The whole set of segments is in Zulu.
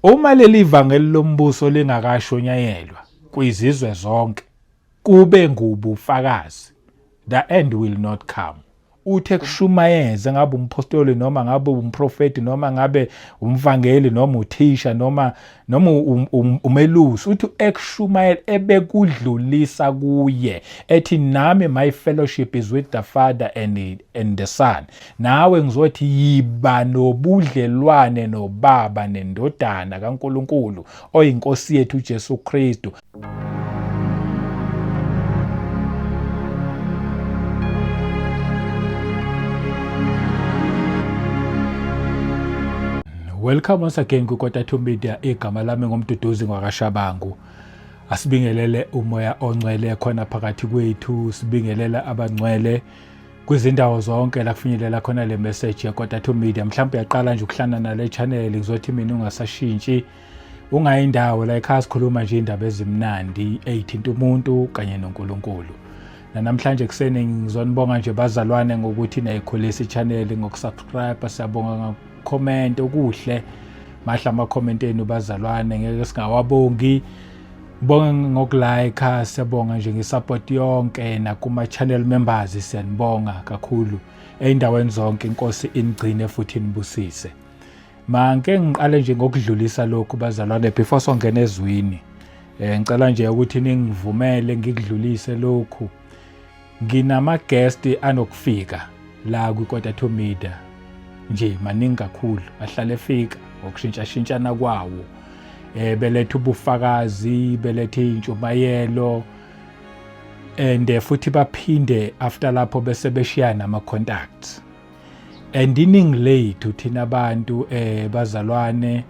Uma leli vangeli lombuso lingakashonyayelwa kwizizwe zonke kube ngubufakazi the end will not come uthe kushumayeze ngabe umphostoli noma ngabe umprofeti noma ngabe umvangeli noma uthisha noma noma um, um, umelusi uthi ekushumayela ebekudlulisa kuye ethi nami my fellowship is with the father and, and the son Nawe ngizothi yiba nobudlelwane nobaba nendodana kaNkuluNkulu oyinkosi yethu uJesu Kristu. Welcome once again kwiKota Two Media igama lami ngomduduzi ngwakashabangu asibingelele umoya ongcwele khona phakathi kwethu sibingelele abangcwele kwizindawo zonke la kufinyelela khona le message yakota to media mhlawumbe uyaqala nje ukuhlana nale channel ngizothi mina ungasashintshi ungayindawo la ekhaya sikhuluma nje indaba ezimnandi eyithinta umuntu kanye noNkulunkulu nanamhlanje ekuseni ngizonibonga nje bazalwane ngokuthi nayikhulisa i-channel ngokusubscribe siyabonga ngakucomment okuhle mahla ama-comment enu bazalwane ngeke singawabongi Ngibonga ngokulayikha, siyabonga nje ngesupport yonke nakuma-channel members siyanibonga kakhulu ey'ndaweni zonke inkosi inigcine futhi inibusise. Manke ngiqale nje ngokudlulisa lokhu bazalwane before songena ezwini. Eh ngicela nje ukuthi ningivumele ngikudlulise lokhu. Nginama guest anokufika la kwi quarter to media nje maningi kakhulu ahlale efika ngokushintsha shintshana kwawo eh beletha ubufakazi beletha intshumayelo and eh, futhi baphinde after lapho bese beshiyana ama contacts and iningi lethu thina abantu eh bazalwane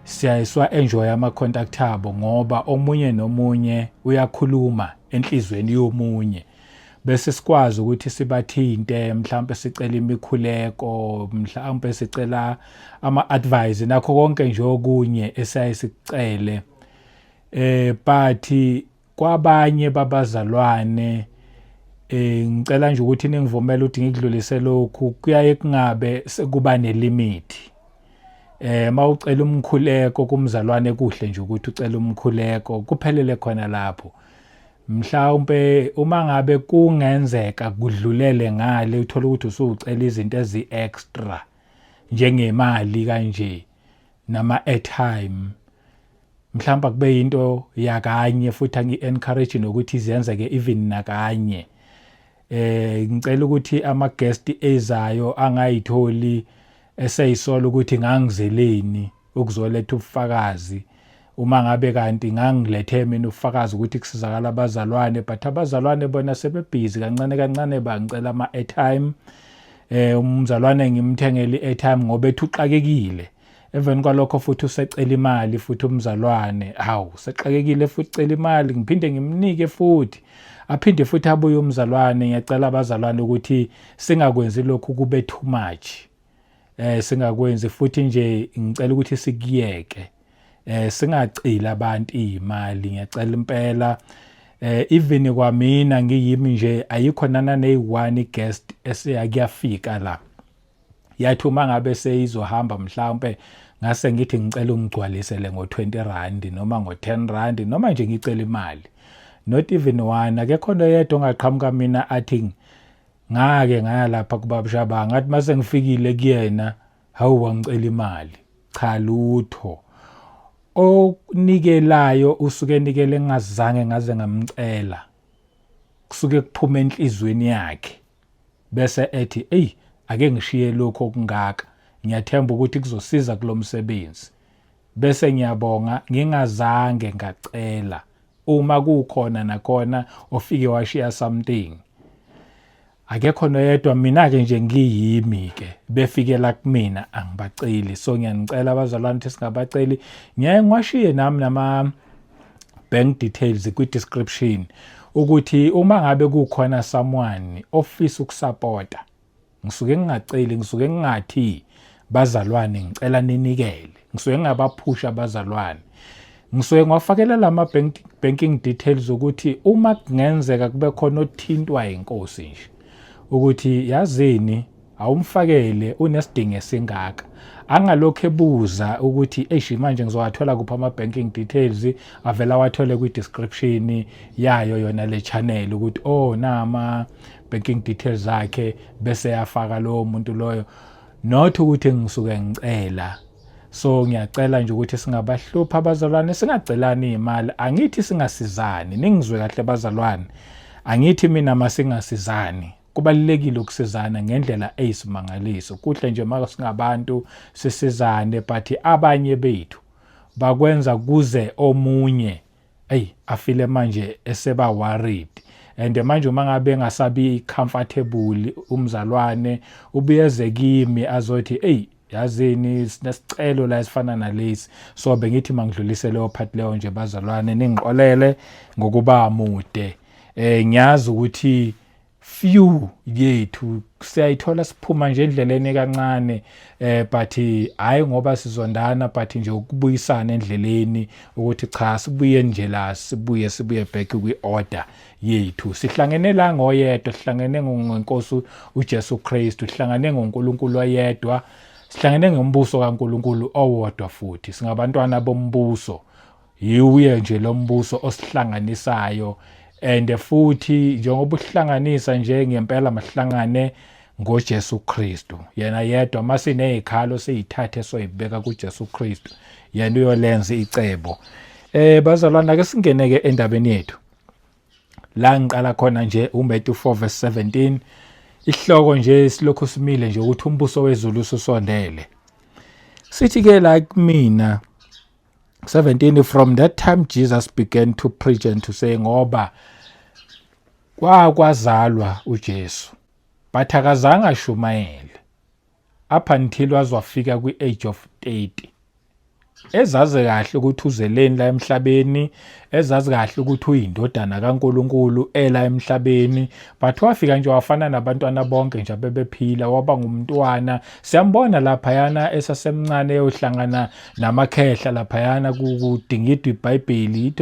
siyayiswa enjoy ama contact abo ngoba omunye nomunye uyakhuluma enhlizweni yomunye bese sikwazi ukuthi sibathinte mhlawumbe sicela imikhuleko mhlawumbe sicela ama-advise nakho konke nje okunye esiyaye sikucele eh but kwabanye babazalwane eh ngicela nje ukuthi ningivumele ukuthi ngikudlulise lokhu kuyaye kungabe sekuba nelimit eh mawucela umkhuleko kumzalwane kuhle nje ukuthi ucela umkhuleko kuphelele khona lapho mhlawumbe uma ngabe kungenzeka kudlulele ngale uthola ukuthi usucela izinto ezi extra njengemali kanje nama airtime mhlawumbe kube into yakanye futhi angi encourage nokuthi izenze ke even nakanye eh ngicela ukuthi ama guest ezayo angayitholi eseyisola ukuthi ngangizeleni ukuzoletha ubufakazi uma ngabe kanti ngangilethe mina ubufakazi ukuthi kusizakala abazalwane but abazalwane bona sebebhizi kancane kancane bangicela ama-airtime eh umzalwane ngimthengele i-airtime ngoba ethuxakekile emveni kwalokho futhi usecela imali futhi umzalwane hawu sexakekile futhi cela imali ngiphinde ngimnike futhi aphinde futhi abuye umzalwane ngiyacela abazalwane ukuthi singakwenzi lokhu kube too much eh singakwenzi futhi nje ngicela ukuthi sikuyeke eh singacili abantu imali ngiyacela impela eh even kwamina ngiyimi nje ayikho nana neyi1 guest esiyakuyafika la yathi uma ngabe seyizohamba mhlawumpe ngase ngithi ngicela ungigcwalisele ngo-20 rand noma ngo-10 rand noma nje ngicela imali not even one akekho nto yedwa ongaqhamuka mina athi ngake ngaya lapha kubabshaba ngathi uma sengifikile kuyena hawu wangicela imali cha lutho onikelayo usuke enikele ngingazange ngaze ngamcela kusuke kuphuma enhlizweni yakhe Bese ethi, eyi ake ngishiye lokhu okungaka, ngiyathemba ukuthi kuzosiza kulo msebenzi. Bese ngiyabonga ngingazange ngacela uma kukhona nakhona ofike washiya something akekho noyedwa mina-ke nje ngiyimi-ke befikela kumina angibaceli so ngiyanicela abazalwane ukuthi singabaceli ngiyaye ngiwashiye nami nama bank details kwi description ukuthi uma ngabe kukhona someone ofisa ukusupporta ngisuke ngingaceli ngisuke ngingathi bazalwane ngicela ninikele ngisuke ngingabaphusha abazalwane ngisuke ngiwafakela lama bank, banking details ukuthi uma kungenzeka kube khona othintwa inkosi nje ukuthi yazini awumfakele unesidingo esingaka angalokhu ebuza ukuthi eish manje ngizowathola kuphi ama banking details avela wathole kwi description yayo yona le channel ukuthi oh nama banking details zakhe bese yafaka lowo muntu loyo not ukuthi ngisuke ngicela so ngiyacela nje ukuthi singabahlupha abazalwane singacelani imali angithi singasizani ningizwe kahle bazalwane angithi mina masingasizani kubalulekile ukusizana ngendlela eyisimangaliso kuhle nje uma singabantu sisizane but abanye bethu bakwenza kuze omunye eyi afile manje eseba worried and manje uma ngabe engasabi comfortable umzalwane ubuyeze kimi azothi eyi yazini sinesicelo la esifana nalesi so bengithi mangidlulise leyo part leyo nje bazalwane ningixolele ngokuba mude eh ngiyazi ukuthi few yethu siyayithola siphuma nje endleleni kancane eh but hayi ngoba sizondana but nje ukubuyisana endleleni ukuthi cha sibuye nje la sibuye sibuye back kwi order yethu sihlangene la ngoyedwa sihlangene ngenkosi uJesu Kristu sihlangene ngoNkulunkulu oyedwa sihlangene ngombuso kaNkulunkulu owodwa futhi singabantwana bombuso Yiwuye nje lo mbuso osihlanganisayo and futhi njengoba uhlanganisa nje ngempela mahlangane ngoJesu Kristu yena yedwa masinezikhalo siyithathe soyibeka kuJesu Kristu yena uyolenza icebo eh bazalwana ke singene ke endabeni yethu la ngiqala khona nje uMatthew 4 verse 17 ihloko nje silokhu simile nje ukuthi umbuso wezulu usondele sithi ke la kumina 17 from that time Jesus began to preach and to say ngoba kwakwazalwa uJesu but akazange ashumayele up until wazwafika kwi-age of 30 ezazi kahle ukuthi uzeleni la emhlabeni ezazi kahle ukuthi uyindodana kaNkuluNkulu ela emhlabeni but wafika nje wafana nabantwana bonke nje abebephila waba ngumntwana siyambona laphayana esasemncane eyohlangana namakhehla laphayana kudingidwa ibhayibheli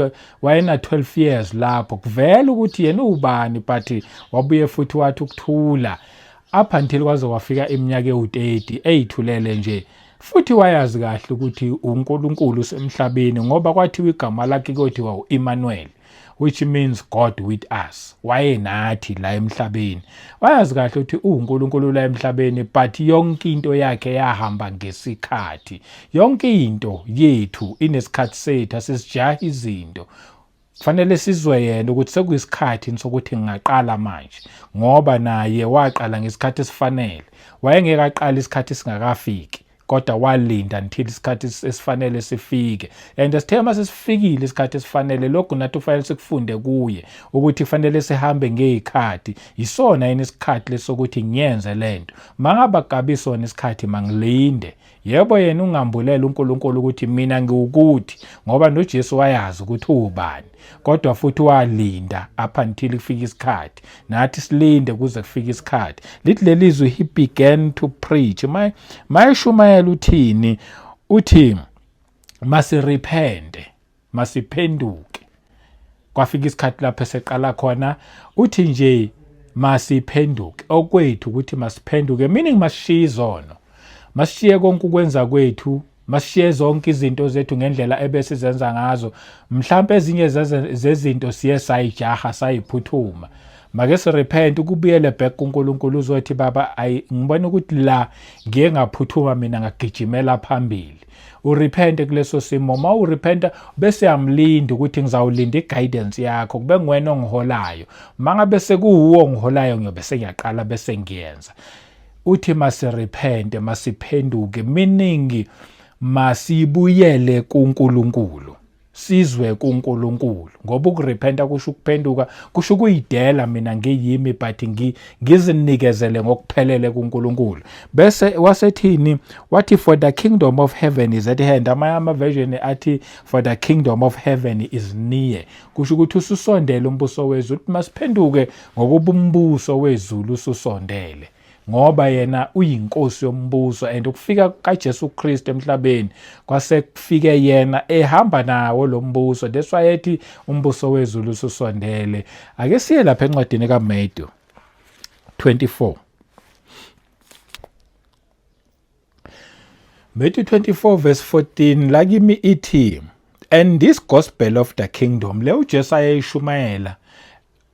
wayena 12 years lapho kuvela ukuthi yena ubani but wabuye futhi wathi ukuthula up until kwaze wafika iminyaka ewu-30 eyithulele nje futhi wayazi kahle ukuthi uNkulunkulu usemhlabeni ngoba kwathiwa igama lakhe kothiwa uImmanuel which means God with us wayenathi la emhlabeni wayazi kahle ukuthi uNkulunkulu la emhlabeni but yonke into yakhe yahamba ngesikhathi yonke into yethu inesikhathi sethu asisijaha izinto fanele sizwe yena ukuthi sekuyisikhathi sokuthi ngingaqala manje ngoba naye waqala ngesikhathi esifanele wayengeke aqala isikhathi singakafiki kodwa walinda until isikhathi esifanele sifike and sithe uma sesifikile isikhathi esifanele lokhu nathi kufanele sikufunde kuye ukuthi kufanele sihambe ngeyikhathi yisona yini isikhathi lesokuthi ngiyenze lento mangaba kabisona isikhathi mangilinde yebo yena ungambulela uNkulunkulu ukuthi mina ngiwukuthi ngoba noJesu wayazi ukuthi uwubani kodwa futhi walinda up until kufika isikhathi nathi silinde kuze kufike isikhathi lithi leli zwi he began to preach my my shumayela uthini uthi masirepente masiphenduke kwafika isikhathi lapho eseqala khona uthi nje masiphenduke okwethu ukuthi masiphenduke meaning masishiye izono masishiye konke ukwenza kwethu Masishiye zonke izinto zethu ngendlela ebesizenza ngazo. Mhlawumbe ezinye zezinto siye sayijaha sayiphuthuma. Make sirepent ukubuyele back kuNkulunkulu uzothi baba ayi ngibona ukuthi la ngiye ngaphuthuma mina ngagijimela phambili. Urepente kuleso simo uma urepenta bese yamlinda ukuthi ngizawulinda i-guidance yakho kube nguwena ongiholayo. Mangabe sekuwuwo ongiholayo ngiyobe sengiyaqala bese ngiyenza. uthi masirepente masiphenduke meaning masibuyele kuNkulunkulu sizwe kuNkulunkulu ngoba ukurepenta kusho ukuphenduka kusho ukuyidela mina ngiyimi but ngizinikezele ngokuphelele kuNkulunkulu bese wasethini wathi for the kingdom of heaven is at hand amanye ama version athi for the kingdom of heaven is near kusho ukuthi ususondele umbuso wezulu ukuthi masiphenduke ngokuba umbuso wezulu ususondele ngoba yena uyinkosi yombuso and ukufika kaJesu Kristu emhlabeni kwase kufike yena ehamba nawo lo mbuso that's why ethi umbuso wezulu ususondele ake siye lapha encwadini kaMatthew 24 Matthew 24 verse 14 la kimi ithi and this gospel of the kingdom le uJesu ayeyishumayela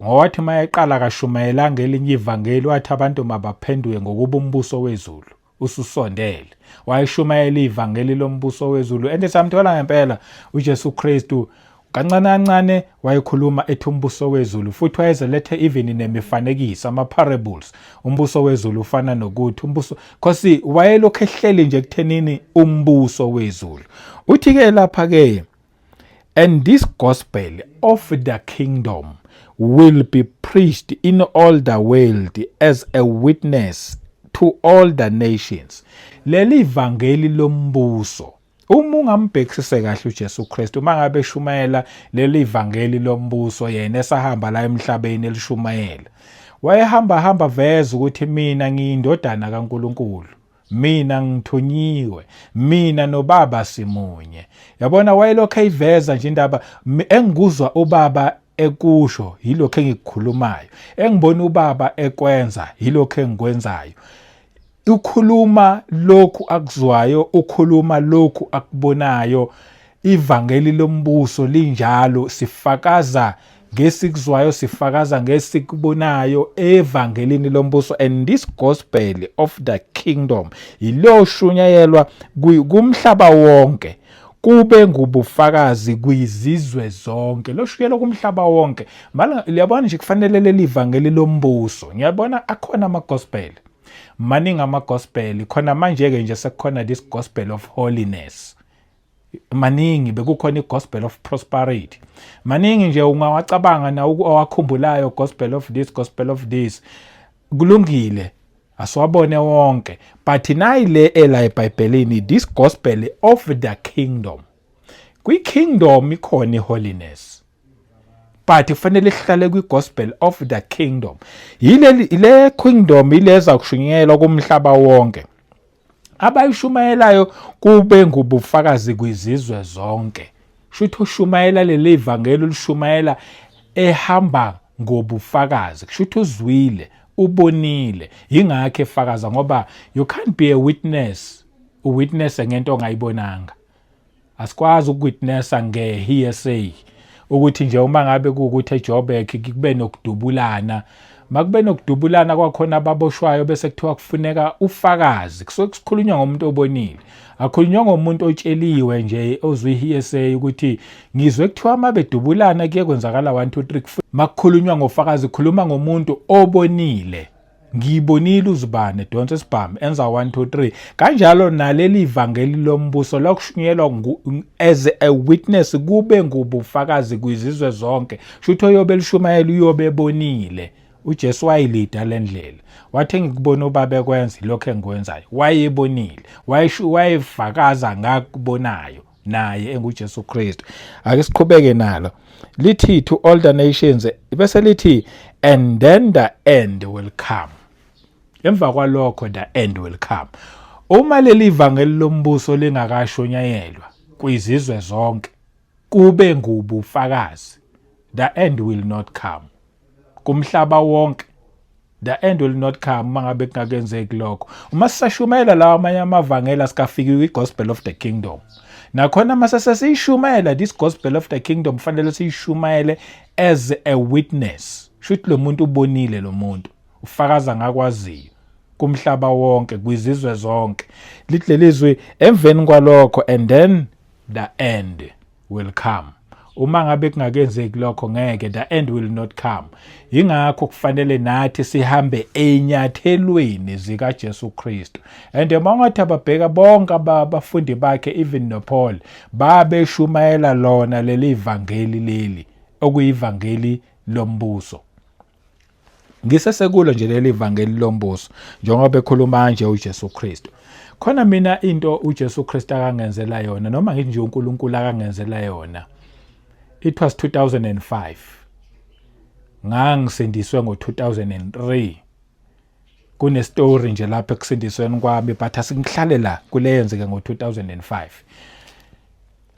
ngowathi mayeqala akashumayela ngelinye ivangeli wathi abantu mabaphenduke ngokuba umbuso wezulu ususondele wayishumayela ivangeli lombuso wezulu and samthola ngempela uJesu Kristu Kancane kancane wayekhuluma ethi umbuso wezulu futhi wayezelethe even nemifanekiso ama-parables umbuso wezulu ufana nokuthi umbuso khosi wayelokhu ehleli nje kuthenini umbuso wezulu uthi-ke lapha-ke and this gospel of the kingdom will be preached in all the world as a witness to all the nations leli vangeli lombuso Uma ungambhekisise kahle uJesu Kristu uma ngabe eshumayela leli vangeli lombuso yena esahamba la emhlabeni elishumayela wayehamba hamba veza ukuthi mina ngiyindodana kaNkuluNkulu mina ngithunyiwe mina nobaba simunye yabona wayelokhu eyiveza nje indaba engikuzwa ubaba ekusho yilokho engikukhulumayo engibona ubaba ekwenza yilokho engikwenzayo Ukhuluma lokhu akuzwayo, ukhuluma lokhu akubonayo. Ivangeli lombuso linjalo, sifakaza ngesikuzwayo, sifakaza ngesikubonayo evangelini lombuso. And this gospel of the kingdom iliyoshunyayelwa kumhlaba wonke kube ngubufakazi kwizizwe zonke loshukela kumhlaba wonke mala liyabona nje kufanele leli vangeli lombuso ngiyabona akhona ama gospel maningi amagospel khona manje-ke nje sekukhona this gospel of holiness maningi bekukhona i-gospel of prosperity maningi nje ungawacabanga na owakhumbulayo gospel of this gospel of this kulungile asiwabone wonke but nayi le ela ebhayibhelini this gospel of the kingdom kwi-kingdom ikhona i-holiness but kufanele sihlale kwi-gospel of the kingdom yile kingdom ileza kushunyelwa kumhlaba wonke abayishumayelayo kube ngubufakazi kwizizwe zonke shuthi ushumayela leli ivangeli ulishumayela ehamba ngobufakazi kusho ukuthi uzwile ubonile yingakho efakaza ngoba you can't be a witness uwitnesse ngento ongayibonanga asikwazi ukuwitnessa nge-hearsay ukuthi nje uma ngabe kuwukuthi ejoburg kube nokudubulana makube nokudubulana kwakhona ababoshwayo bese kuthiwa kufuneka ufakazi kusuke kusikhulunywa ngomuntu obonile akhulunywa ngomuntu otsheliwe nje ozwe i-hearsay ukuthi ngizwe kuthiwa uma bedubulana kuye kwenzakala 1 2 3 makukhulunywa ngofakazi khuluma ngomuntu obonile ngiyibonile uzibane edonsa isibhamu enza 1 2 3 kanjalo naleli vangeli lombuso lokushunyelwa as a witness kube ngubufakazi kwizizwe zonke shutho yobe lishumayela uyobe ebonile uJesu wayilida lendlela wathi ngikubona ubaba ekwenza lokho engikwenzayo wayebonile wayefakaza ngakubonayo naye enguJesu Kristu ake siqhubeke nalo lithi to all the nations bese lithi and then the end will come emva kwalokho the end will come uma leli vangeli lombuso lingakashonyayelwa kwizizwe zonke kube ngubufakazi the end will not come kumhlaba wonke the end will not come uma ngabe kungakenzeki lokho uma sisashumayela lawa amanye amavangeli asikafiki kwi-gospel of the kingdom nakhona uma sesesiyishumayela this gospel of the kingdom kufanele siyishumayele as a witness shuthi lo muntu ubonile lo muntu ufakaza ngakwaziyo kumhlaba wonke kwizizwe zonke lithi lelizwi emveni kwalokho and then the end will come uma ngabe kungakenzeki lokho ngeke the end will not come ingakho kufanele nathi sihambe enyathelweni zika Jesu Kristu and mangathi ababheka bonke abafundi bakhe even no Paul babeshumayela lona leli vangeli leli okuyivangeli lombuso ngisesekulo nje leli vangeli lombuso njengoba bekhuluma nje uJesu Kristu khona mina into uJesu Kristu akangenzela yona noma ngithi nje uNkulunkulu akangenzela yona it was 2005 ngangisindiswe ngo 2003 kune story nje lapha ekusindisweni kwami but asingihlale la kuleyenzeke ngo2005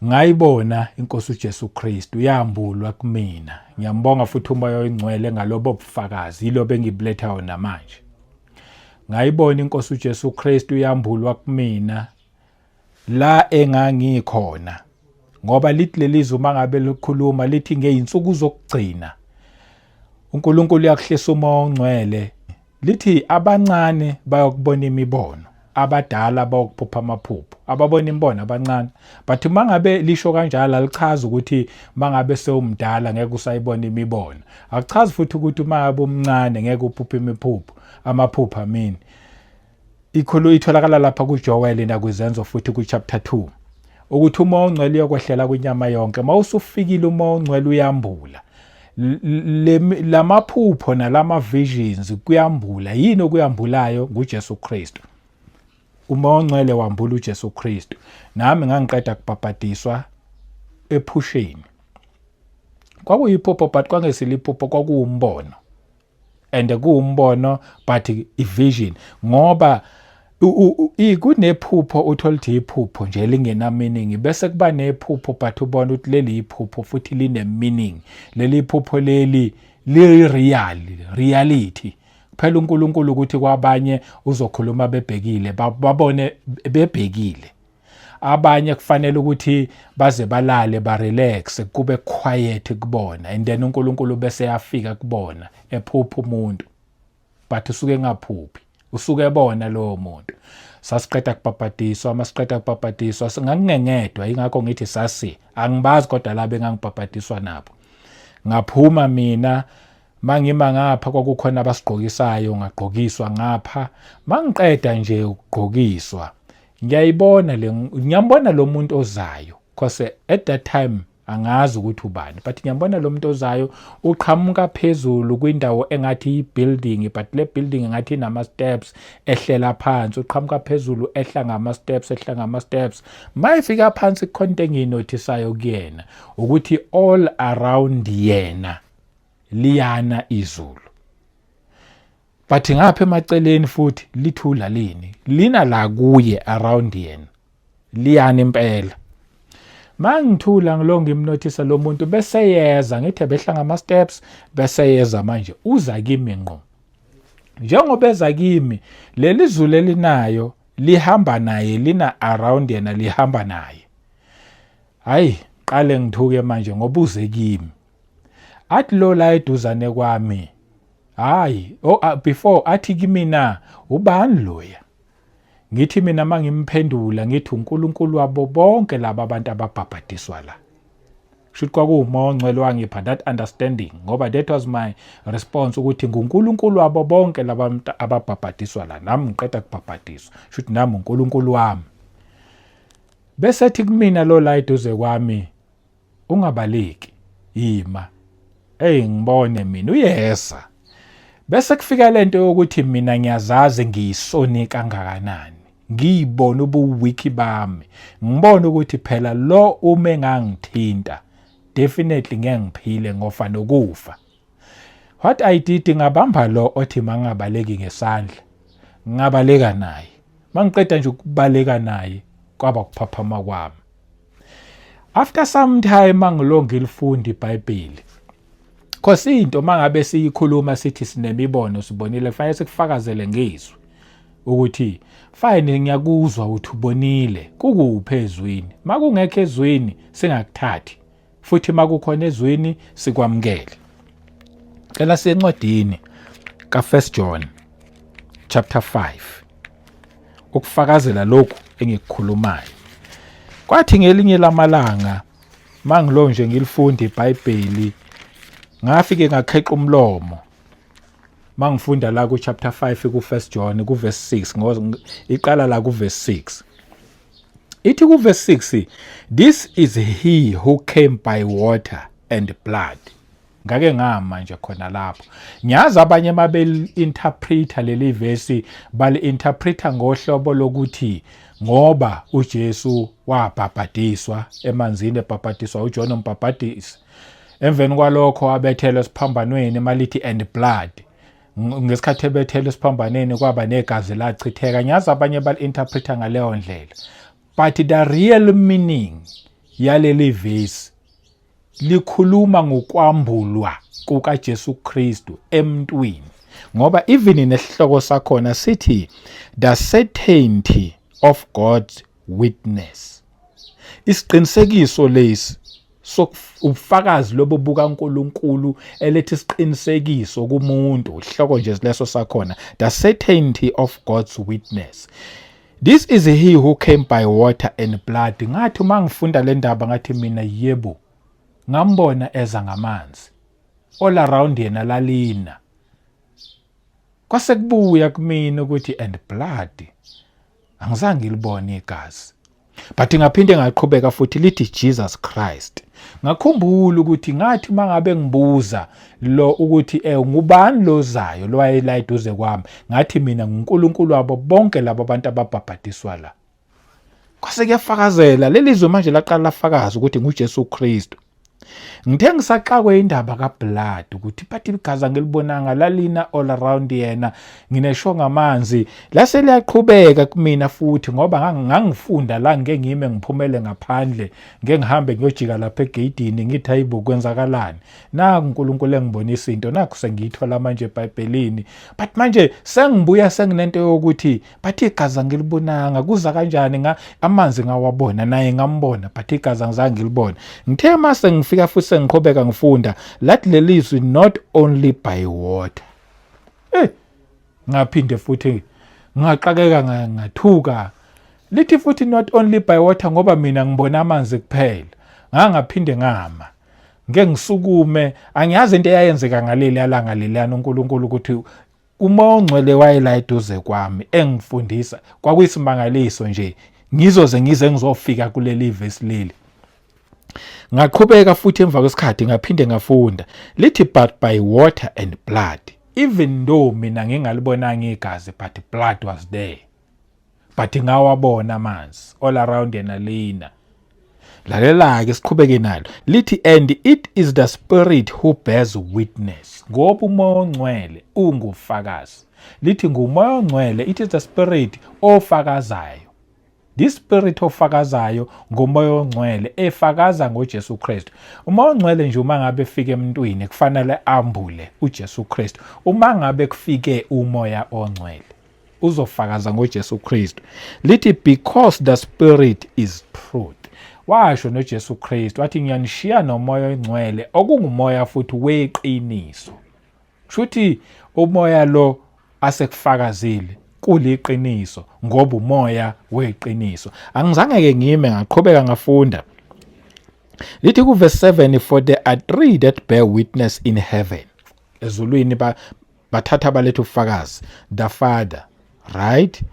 ngayibona inkosi uJesu Kristu yambulwa kumina ngiyambonga futhi umoya oyingcwele ngalobo bufakazi yilo bengibulethayo namanje ngayibona inkosi uJesu Kristu yambulwa kumina la engangikhona ngoba lithi lelizwe uma ngabe likhuluma lithi ngeyinsuku zokugcina uNkulunkulu uyakuhlisa uma ongcwele lithi abancane bayokubona imibono abadala bayokuphupha amaphupho ababona imibono abancane but uma ngabe lisho kanjalo alichazi ukuthi uma ngabe sewumdala ngeke usayibona imibono akuchazi futhi ukuthi uma ngabe umncane ngeke uphuphe imiphupho amaphupho amini Ikhulu itholakala lapha kuJoweli nakwiZenzo futhi kuchapter 2 ukuthi uma ongcwele uyokwehlela kwinyama yonke uma usufikile uma ongcwele uyambula lamaphupho nalama visions kuyambula yini okuyambulayo nguJesu Kristu uma ongcwele wambula uJesu Kristu nami ngangiqeda kubhabhadiswa ephusheni kwakuyiphupho but kwangesiliphupho kwakuwumbono and kuwumbono but ivision ngoba kunephupho uthola ukuthi iphupho nje lingena meaning bese kuba nephupho but ubona ukuthi leli iphupho futhi line meaning leli phupho leli li real reality kuphela uNkulunkulu ukuthi kwabanye uzokhuluma bebhekile babone bebhekile abanye kufanele ukuthi baze balale barelax kube quiet kubona and then uNkulunkulu bese yafika kubona ephupha umuntu but usuke engaphuphi usuke ebona lowo muntu sasiqeda kubhabhadiswa uma siqeda kubhabhadiswa singakungengedwa ingakho ngithi sasi angibazi kodwa labe engangibhabhadiswa nabo ngaphuma mina mangima ngapha kwakukhona abasigqokisayo ngagqokiswa ngapha mangiqeda nje ukugqokiswa ngiyayibona le ngiyambona lo muntu ozayo cause at that time angazi ukuthi ubani but ngiyambona lo muntu ozayo uqhamuka phezulu kwindawo engathi yi-building but le building engathi inama-steps ehlela phansi uqhamuka phezulu ehla ngama-steps ehla ngama-steps ma efika phansi kukhona into engiyinothisayo kuyena ukuthi all around yena liyana izulu but ngapha emaceleni futhi lithula lini lina la kuye around yena liyani impela mangithula ngilonga imnothisa lo muntu bese yeza ngithe behla ngama steps bese yeza manje uza kimi ngqo njengoba eza kimi leli zulu elinayo lihamba naye lina around yena lihamba naye hayi qale ngithuke manje ngoba uze kimi athi lo la eduzane kwami hayi oh, uh, before athi kimina ubani loya ngithi mina mangimphendula ngithi uNkulunkulu wabo bonke laba abantu ababhabhadiswa la shuthi kwakuwumoya ongcwele wangipha that understanding ngoba that was my response ukuthi nguNkulunkulu wabo bonke laba ababhabhadiswa la nami ngiqeda kubhabhadiswa shuthi nami uNkulunkulu wami bese ethi kumina lo la eduze kwami Ungabaleki. Yima. Ey ngibone mina uyeza. Bese kufika lento yokuthi mina ngiyazazi ngiyisoni kangakanani. Ngiyibona ubuwiki bami. Ngibona ukuthi phela lo ume ngangithinta. Definitely ngeke ngiphile ngofa nokufa. What I did ngabamba lo othi mangabaleki ngesandla. Ngabaleka naye. Mangiqeda nje ukubaleka naye kwaba kuphaphama kwami. After some time mangilonga ilifundi iBhayibheli. Khosi into mangabe siyikhuluma sithi sinemibono sibonile fanele sikufakazele ngizwi ukuthi fine ngiyakuzwa uthi ubonile kukuphi ezwini makungekho ezwini singakuthathi futhi makukhona ezwini sikwamukele cela sencwadini ka 1 John chapter 5 ukufakazela lokhu engikukhulumayo kwathi ngelinye lamalanga mangilo nje ngilifunda iBhayibheli ngafike ngakheqa umlomo mangifunda la ku chapter 5 ku 1 John ku verse 6 ngoba iqala la ku verse 6 Ithi kuverse 6 this is he who came by water and blood. Ngake ngama nje khona lapho. Ngiyazi abanye mabeli interpreter leli verse bali interpreter ngohlobo lokuthi ngoba uJesu wabhabhadiswa emanzini ebhabhadiswa uJohn umbhabhadisi. Emveni kwalokho abethelwe esiphambanweni malithi and blood. ngesikhathi ebethela esiphambaneni kwaba negazi lachitheka ngiyazi abanye bali-interpreta ngaleyo ndlela but the real meaning yaleli vesi likhuluma ngokwambulwa kukaJesu Kristu emntwini ngoba even nesihloko sakhona sithi the certainty of God's witness isiqinisekiso lesi ubufakazi lobo bukaNkulunkulu elethe isiqinisekiso kumuntu ihloko nje leso sakhona the certainty of God's witness this is he who came by water and blood ngathi uma ngifunda le ndaba ngathi mina yebo ngambona eza ngamanzi all around yena lalina kwase kubuya kumina ukuthi and blood angizange ngilibone igazi but ngaphinde ngaqhubeka futhi lithi Jesus Christ ngakhumbula ukuthi ngathi uma ngabe ngibuza lo ukuthi eh ngubani lozayo lowayela eduze kwami ngathi mina nguNkulunkulu wabo bonke labo bantu ababhabhadiswa la kwase kuyafakazela lelizwe manje laqala lafakaza ukuthi nguJesu Kristu ngithe ngisaxakwe indaba kablood ukuthi bathi igazi angilibonanga lalina all around yena nginesho ngamanzi lase liyaqhubeka kumina futhi ngoba ngangifunda la ngike ngime ngiphumele ngaphandle ngike ngihambe ngiyojika lapha egeyidini ngithi hayibo kwenzakalani naku unkulunkulu engibonisa into naku sengiyithola manje ebhayibhelini but manje sengibuya senginento yokuthi but igazi angilibonanga kuza kanjani nga amanzi ngawabona naye ngambona but igazi angizange ngilibone ngithe uma sengifika futhi sengiqhubeka ngifunda lathi leli zwi not only by water eh ngaphinde futhi ngaqakeka ngathuka lithi futhi not only by water ngoba mina ngibona amanzi kuphela ngangaphinde ngama ngeke ngisukume angiyazi into eyayenzeka ngaleli alanga leliyana uNkulunkulu ukuthi Uma ongcwele wayela eduze kwami engifundisa kwakuyisimangaliso nje ngizoze ngize ngizofika kuleli vesi leli ngaqhubeka futhi emva kwesikhathi ngaphinde ngafunda lithi but by water and blood even though mina ngingalibonanga igazi but blood was there but ngawabona amanzi all around yena lina lalela-ke siqhubeke nalo lithi and it is the spirit who bears witness ngoba umoya ongcwele ungufakazi lithi ngumoya ongcwele it is the spirit ofakazayo this spirit ofakazayo ngomoya ongcwele efakaza ngoJesu Kristu uma ongcwele nje uma ngabe efike emntwini kufanele ambule uJesu Kristu uma ngabe kufike umoya ongcwele uzofakaza ngoJesu Kristu lithi because the spirit is truth washo noJesu Kristu wathi ngiyanishiya nomoya oyingcwele okungumoya futhi weqiniso shuthi umoya lo asekufakazile kuliqiniso ngoba umoya weqiniso angizange ke ngime ngaqhubeka ngafunda lithi kuverse 7 for there are three that bear witness in heaven ezulwini bathatha baletha ubufakazi the father right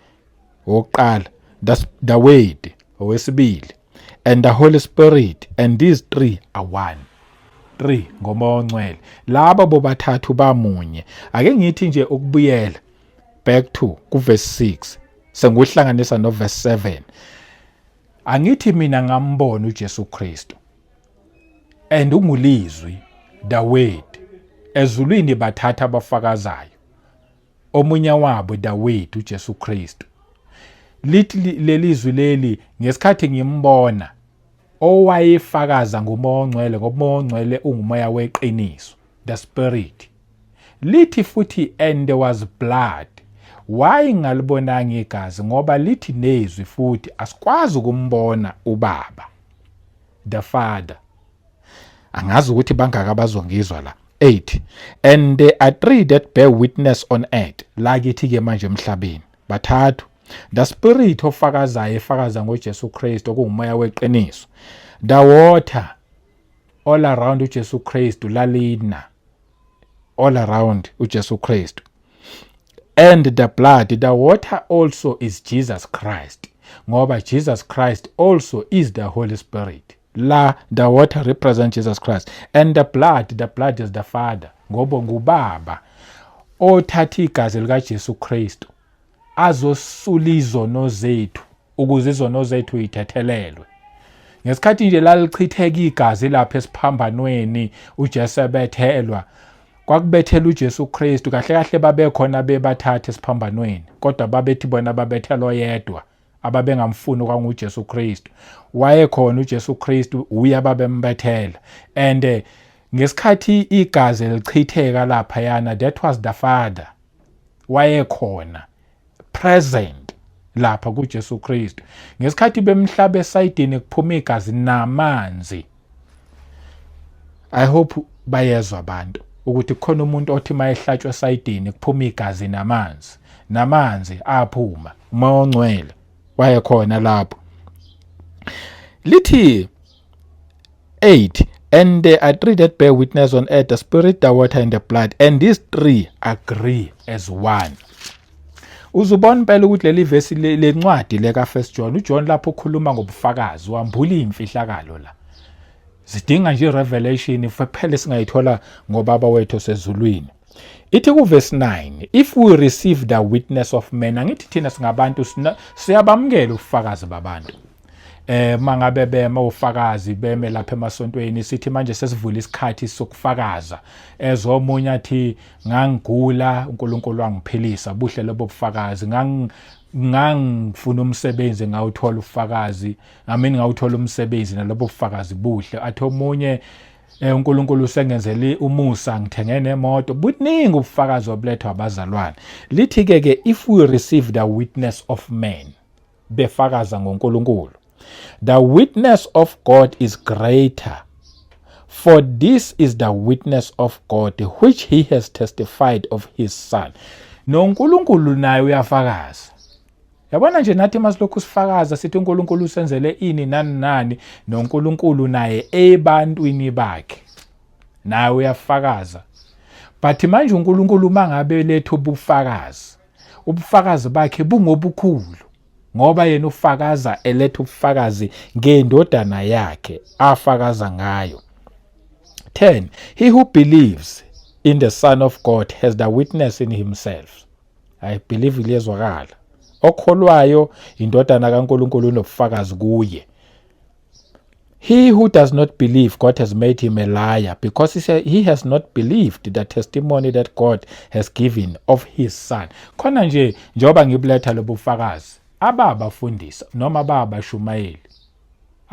wokuqala the, the word owesibili and the holy spirit and these three are one three ngomoya ongcwele laba bobathathu bamunye ake ngithi nje ukubuyela back to kuverse 6 senguhlanganisa noverse 7 angithi mina ngambona uJesu Kristu and ungulizwi the word ezulwini bathatha abafakazayo omunye wabo the word uJesu Kristu lithi lelizwi leli ngesikhathi ngimbona owayefakaza ngomoya ongcwele ngoba umoya ongcwele ungumoya weqiniso the spirit lithi futhi and there was blood why ngalibonanga igazi ngoba lithi nezwi futhi asikwazi ukumbona ubaba the father angazi ukuthi bangaka abazongizwa la 8 and there are three that bear witness on earth la kithi ke manje emhlabeni bathathu the spirit ofakazayo efakaza ngoJesu Kristu okungumoya weqiniso the water all around uJesu Kristu lalina all around uJesu Kristu and the blood the water also is jesus christ ngoba jesus christ also is the holy spirit la the water represent jesus christ and the blood the blood is the father ngoba ngubaba othatha igazi likajesu kristu azosula izono zethu ukuze izono zethu yithethelelwe ngesikhathi nje lalichitheka igazi lapha esiphambanweni uJesu ebethelwa kwakubethela uJesu Kristu kahle kahle babekhona bebathathe esiphambanweni kodwa babethi bona babethelwa yedwa ababengamfuni kwanguJesu Kristu wayekhona uJesu Kristu uye ababembethela and eh, ngesikhathi igazi lichitheka lapha yana that was the father wayekhona present lapha kuJesu Kristu ngesikhathi bemhlaba esayidini kuphuma igazi namanzi i hope bayezwa abantu ukuthi khona umuntu othi mayehlatshwa esayidini kuphuma igazi namanzi namanzi aphuma umoya ongcwele wayekhona lapho lithi 8 and there are three that bear witness on earth the spirit the water and the blood and these three agree as one uzubona impela ukuthi leli vesi lencwadi leka first john ujohn lapho ukhuluma ngobufakazi wambula imfihlakalo la zidinga nje revelation kuphele singayithola ngobaba wethu osezulwini ithi kuvesi 9 if we receive the witness of men angithi thina singabantu siyabamukela ubufakazi babantu eh mangabe bema ufakazi beme lapha emasontweni sithi manje sesivula isikhathi sokufakaza ezomunye athi ngangigula uNkulunkulu wangiphilisa buhle lobo bufakazi ngang ngangifuna umsebenzi ngawuthola ufakazi ngamini ngawuthola umsebenzi nalobo bufakazi buhle athi omunye Eh uNkulunkulu usengenzele umusa ngithenge nemoto. Buningi ubufakazi obulethwa abazalwane. Lithi ke ke if we received a witness of men befakaza ngoNkulunkulu. The witness of God is greater. For this is the witness of God which he has testified of his son. NoNkulunkulu naye uyafakaza. yabona nje nathi uma silokhu sifakaza sithi uNkulunkulu usenzele ini nani nani noNkulunkulu naye ebantwini bakhe nawe uyafakaza but manje uNkulunkulu uma ngabe letha ubufakazi ubufakazi bakhe bungobukhulu ngoba yena ufakaza eletha ubufakazi ngendodana yakhe afakaza ngayo 10 he who believes in the son of god has the witness in himself I believe liyezwakala. Okholwayo indodana kaNkulunkulu unobufakazi kuye. He who does not believe God has made him a liar because he, said he has not believed the testimony that God has given of his son. Khona nje njengoba ngibuletha lobufakazi ababafundisi noma babashumayeli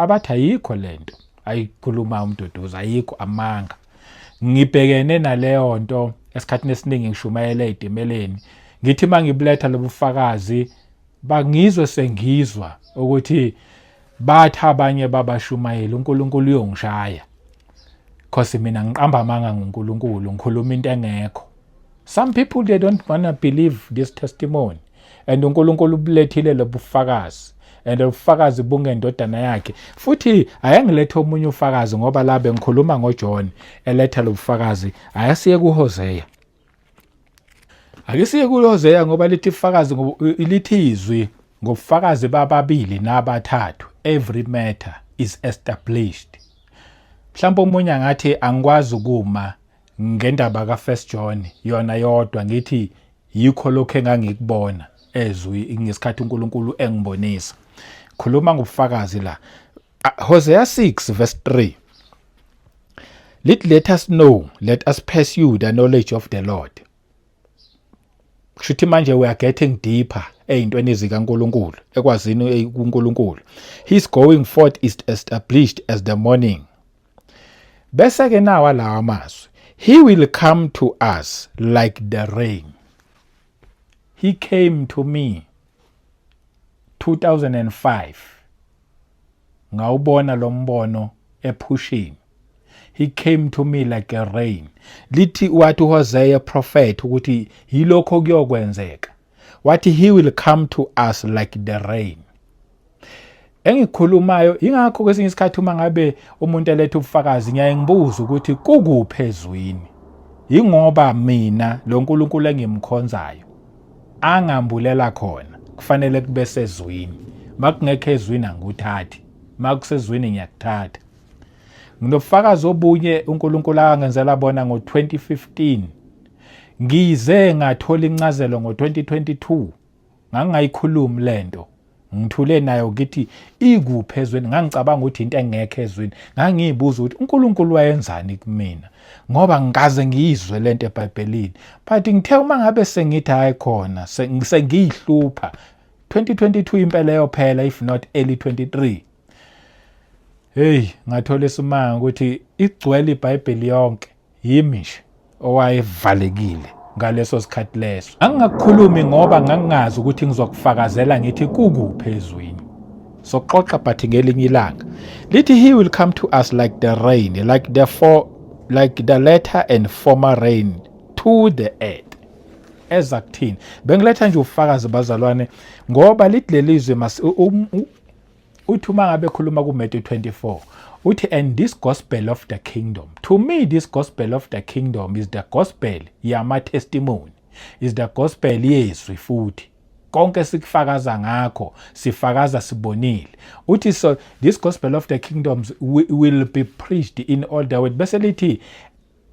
abathi ayikho lento ayikhuluma umduduzi ayikho amanga ngibhekene naleyo nto esikhathini esiningi ngishumayela ey'timeleni ngithi uma ngibuletha lobufakazi bangizwe sengizwa ukuthi bathi abanye babashumayeli uNkulunkulu uyongishaya cause mina ngiqamba amanga ngoNkulunkulu ngikhuluma into engekho Some people they don't wanna believe this testimony and uNkulunkulu ubulethile lobufakazi and ubufakazi bungendodana yakhe futhi ayangilethe omunye ufakazi ngoba la bengikhuluma ngoJohn eletha lobufakazi ayasiye kuHosea akisiye kuHosea ngoba lithi ifakazi lithi izwi ngobufakazi bababili nabathathu every matter is established mhlawumbe omunye angathi angikwazi ukuma ngendaba ka First John yona yodwa ngithi yikho lokho engangikubona ezwi ngesikhathi uNkulunkulu engibonisa khuluma ngobufakazi la Hosea 6 verse 3 Let let us know let us pursue the knowledge of the Lord Kushuthi manje we are getting deeper ezintweni zikaNkuluNkulu ekwazini uNkuluNkulu His going forth is established as the morning bese ke nawa lawa mazwi he will come to us like the rain he came to me 2005 ngawubona lo mbono ephushini he came to me like a rain lithi wathi uHosea prophet ukuthi yilokho kuyokwenzeka wathi he will come to us like the rain engikhulumayo ingakho kwesinye isikhathi uma ngabe umuntu eletha ubufakazi ngiyaye ngibuze ukuthi kukuphi ezwini yingoba mina lo nkulunkulu engimkhonzayo angambulela khona kufanele kube sezwini makungekho ezwini angikuthathi makusezwini ngiyakuthatha nginobufakazi obunye unkulunkulu akangenzela bona ngo-2015 Ngize ngathola incazelo ngo-2022 ngangingayikhulumi le nto ngithule nayo ngithi ikuphi ezweni ngangicabanga ukuthi into engekho ezweni ngangiyibuza ukuthi uNkulunkulu wayenzani kumina ngoba ngikaze ngiyizwe le nto ebhayibhelini but ngithe uma ngabe sengithi hayi khona sengiyihlupha 2022 impela yophela if not early 23 hey ngathola isimanga ukuthi igcwele ibhayibheli yonke Yimi nje owayevalekile ngaleso sikhathi leso. Angingakukhulumi ngoba ngangingazi ukuthi ngizokufakazela ngithi kukuphi ezwini. Soxoxa but ngelinye ilanga. Lithi he will come to us like the rain, like the for like the latter and former rain to the earth. eza kuthini bengiletha nje ufakazi bazalwane ngoba lithi lelizwe uthi uma ngabe khuluma kuMatthew 24 uthi and this gospel of the kingdom to me this gospel of the kingdom is the gospel yama testimony is the gospel yezwi futhi konke sikufakaza ngakho sifakaza sibonile uthi so this gospel of the kingdoms will be preached in all the world bese lithi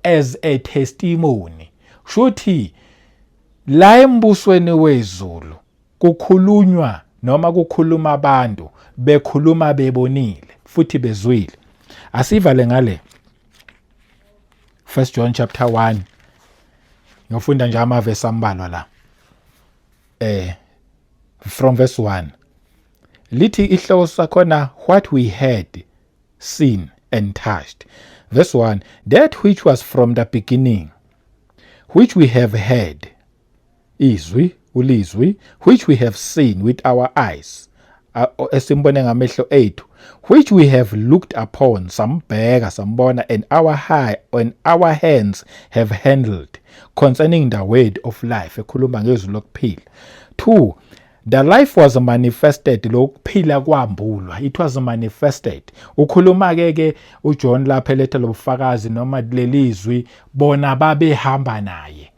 as a testimony shuthi la embusweni wezulu Kukhulunywa noma kukhuluma abantu bekhuluma bebonile futhi bezwile. Asivale ngale 1 John chapter 1 ngiyofunda nje amavesi ambalwa la eh from verse 1 lithi ihloko sakhona what we heard seen and touched verse 1 that which was from the beginning which we have heard izwi ulizwi which we have seen with our eyes esimbone ngamehlo ethu which we have looked upon sambheka sambona and our high and our hands have handled concerning the word of life ekhuluma ngezwi lokuphila 2 the life was manifested lokuphila kwambulwa it was manifested ukhuluma ke ke uJohn lapha eletha lobufakazi noma lelizwi bona babehamba naye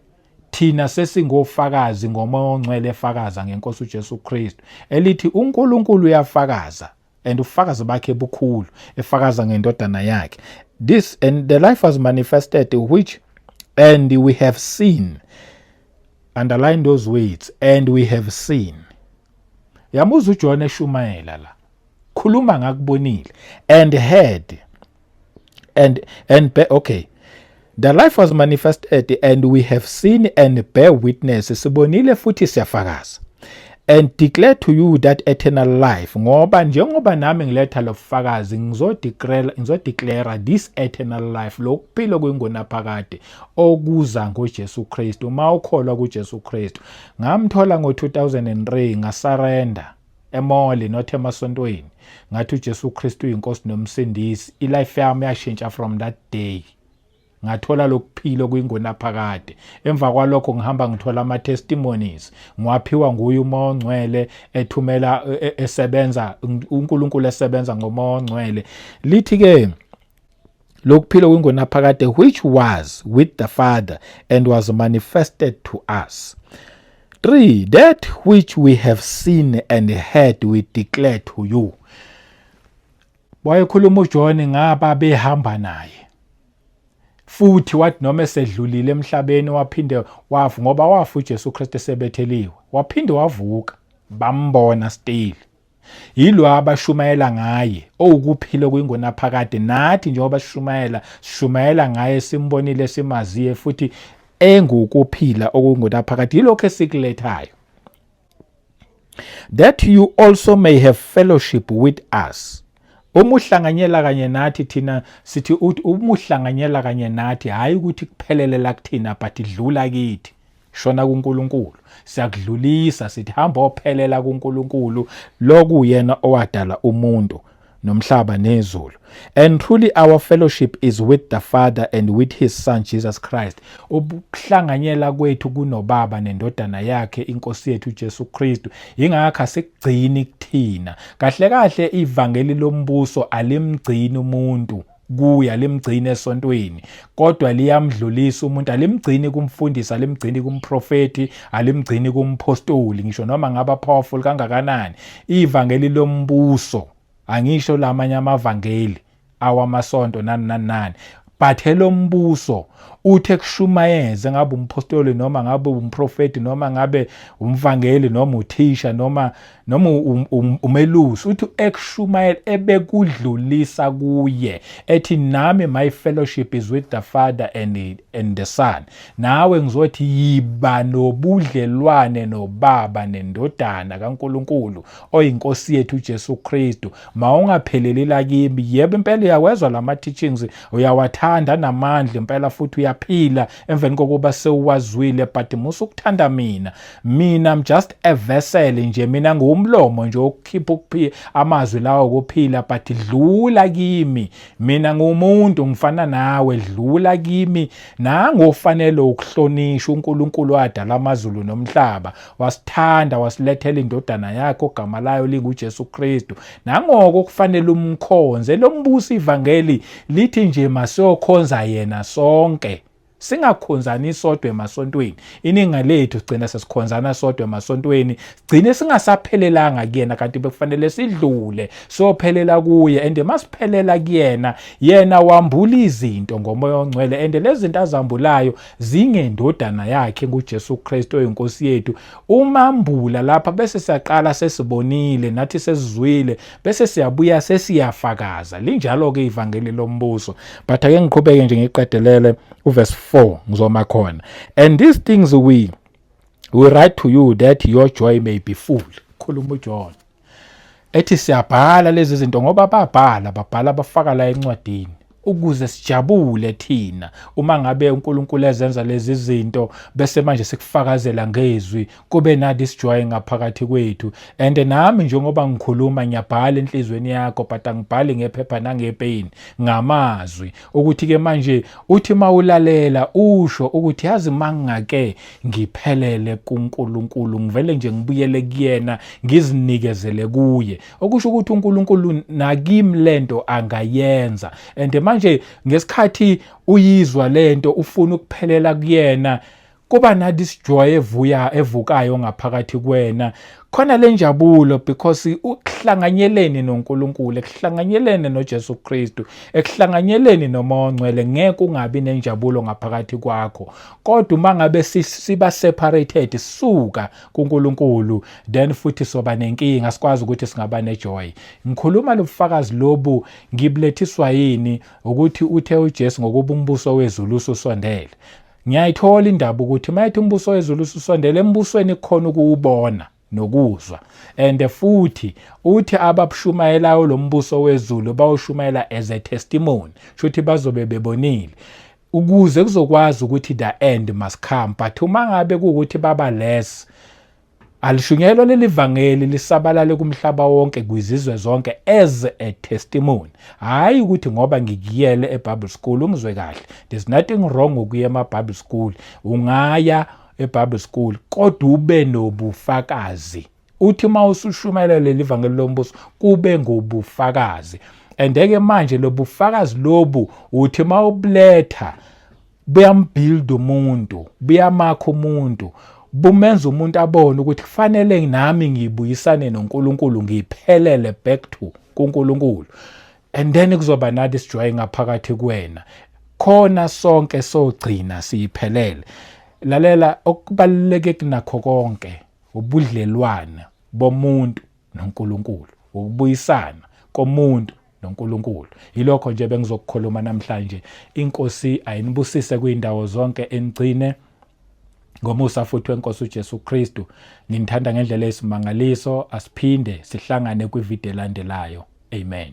Thina sesingofakazi ngoMoya oNgcwele efakaza ngeNkosi uJesu Kristu elithi uNkulunkulu uyafakaza and ufakazi bakhe bukhulu efakaza ngendodana yakhe this and the life was manifested which and we have seen underline those words and we have seen yamuza uJohn eshumayela la khuluma ngakubonile and heard and and be, okay the life was manifested and we have seen and bear witness sibonile futhi siyafakaza and declare to you that eternal life ngoba njengoba nami ngiletha lobufakazi ngizodeclare ngizodeclare this eternal life lokuphila kwingonaphakade okuza ngoJesu Kristu uma ukholwa kuJesu Kristu ngamthola ngo2003 ngasurrender emoli not emasontweni ngathi uJesu Kristu uyinkosi nomsindisi ilife yami yashintsha from that day ngathola lokuphila kuyingonaphakade emva kwalokho ngihamba ngithola ama testimonies ngiwaphiwa nguye uma ongcwele ethumela e, e, esebenza uNkulunkulu esebenza ngoma ongcwele lithi ke lokuphila kwingunaphakade which was with the Father and was manifested to us. 3 that which we have seen and heard we declare to you. Wayekhuluma uJohn ngaba behamba naye. Futhi wathi noma esedlulile emhlabeni waphinde wafu ngoba wafu uJesu Kristu esebetheliwe. Waphinde wavuka bambona still. Yilo abashumayela ngaye, owukuphila okuyingunaphakade. Nathi njengoba sishumayela, sishumayela ngaye, simbonile, simaziye, futhi engukuphila okungunaphakade. Yilokho esikulethayo. That you also may have fellowship with us. Uma uhlanganyela kanye nathi thina sithi uma uhlanganyela kanye nathi hhayi ukuthi kuphelele la kuthina but dlula kithi. shona kuNkulunkulu siyakudlulisa sithi hamba ophelela kuNkulunkulu lokuyena owadala umuntu nomhlaba nezulu and truly our fellowship is with the father and with his son Jesus Christ ukuhlanganyela kwethu kunobaba nendodana yakhe inkosi yethu Jesu Kristu ingakho asigcini kuthina kahle kahle ivangeli lombuso alimgcini umuntu kuya limgcini esontweni kodwa liyamdlulisa umuntu alimgcini kumfundisi alimgcini kumprofeti alimgcini kumphostoli ngisho noma ngaba powerful kangakanani ivangeli lombuso angisho lamanye amavangeli awamasonto nani nani nani but elombuso uthe kushumayeze ngabe umphostoli noma ngabe umprofeti noma ngabe umvangeli noma uthisha noma noma um, um, umelusi uthi ekushumayela ebekudlulisa kuye ethi nami my fellowship is with the father and, and the son nawe ngizothi yiba nobudlelwane nobaba nendodana kaNkuluNkulu oyinkosi yethu uJesu Kristu mawungapheleli lakimi yebo impela uyawezwa lama teachings uyawathanda namandla impela futhi uyaphila emveni kokuba sewuwazwile but musa ukuthanda mina mina I'm just a vessel nje mina ngiwumlomo nje okukhipha ukuphila amazwi lawa okuphila but dlula kimi mina ngumuntu ngifana nawe dlula kimi nangofanele ukuhlonishwa uNkulunkulu wadala amazulu nomhlaba wasithanda wasilethela indodana yakhe ogama layo linguJesu Kristu nangoko kufanele umkhonze lombusi ivangeli lithi nje masokhonza yena sonke singakhonzani sodwa emasontweni iningi lethu sigcina sesikhonzana sodwa emasontweni sigcine singasaphelelanga kuyena kanti bekufanele sidlule siyophelela kuye and masiphelela kuyena yena wambula izinto ngomoya ongcwele and lezi zinto azambulayo zingendodana yakhe nguJesu Kristu oyinkosi yethu umambula lapha bese siyaqala sesibonile nathi sesizwile bese siyabuya sesiyafakaza linjalo-ke ivangeli lombuso but ake ngiqhubeke nje ngiqedelele uverse 4 ngizoma khona and these things we we write to you that your joy may be full khuluma ujohn ethi siyabhala lezi zinto ngoba babhala babhala bafaka la encwadini ukuze sijabule thina uma ngabe uNkulunkulu ezenza lezi zinto bese manje sikufakazela ngezwi kube na this joy ngaphakathi kwethu and nami njengoba ngikhuluma ngiyabhala enhlizweni yakho but angibhali ngephepha nangepeni ngamazwi ukuthi ke manje uthi mawulalela usho ukuthi yazi mangake ngiphelele kuNkulunkulu ngivele nje ngibuyele kuyena ngizinikezele kuye okusho ukuthi uNkulunkulu nakim lento angayenza and manje ngesikhathi uyizwa lento ufuna ukuphelela kuyena kuba nathi sijoy evuya evukayo ngaphakathi kwena khona le njabulo because ukuhlanganyeleni noNkulunkulu ekuhlanganyelene noJesu Kristu ekuhlanganyeleni noma ongcwele ngeke ungabi nenjabulo ngaphakathi kwakho kodwa uma ngabe siba separated suka kuNkulunkulu then futhi soba nenkinga sikwazi ukuthi singaba nejoy ngikhuluma lobufakazi lobu ngiblethiswa yini ukuthi uthe uJesu ngokuba umbuso wezulu usondele ngiyayithola indaba ukuthi mayethi umbuso wezulu usondele embusweni kukhona ukuwubona nokuzwa and futhi uthi ababushumayelayo lombuso wezulu bawushumayela as a testimony shuthi bazobe bebonile ukuze kuzokwazi ukuthi the end must come but uma ngabe kuwukuthi baba less alishunyelwa leli vangeli lisabalale kumhlaba wonke kwizizwe zonke as a testimony hhayi ukuthi ngoba ngikuyele ebible school ungizwe kahle there's nothing wrong ngokuya emabible school ungaya ebible school kodwa ube nobufakazi uthi uma usushumayela leli vangeli lombuso kube ngobufakazi and ke manje lobufakazi lobu uthi uma ubuletha buyambuild umuntu buyamakha umuntu bumenza umuntu abone ukuthi kufanele nami ngibuyisane noNkulunkulu ngiphelele back to kuNkulunkulu and then kuzoba nathi sijoy ngaphakathi kuwena khona sonke sogcina siyiphelele lalela okubaluleke kunakho konke wobudlelwane bomuntu noNkulunkulu, wokubuyisana komuntu noNkulunkulu. Yilokho nje bengizokukhuluma namhlanje. INkosi ayinibusise kwindawo zonke enigcine ngomusa futhi wenkosi uJesu Kristu. Nginithanda ngendlela eyisimangaliso, asiphinde sihlangane kwivideo elandelayo. Amen.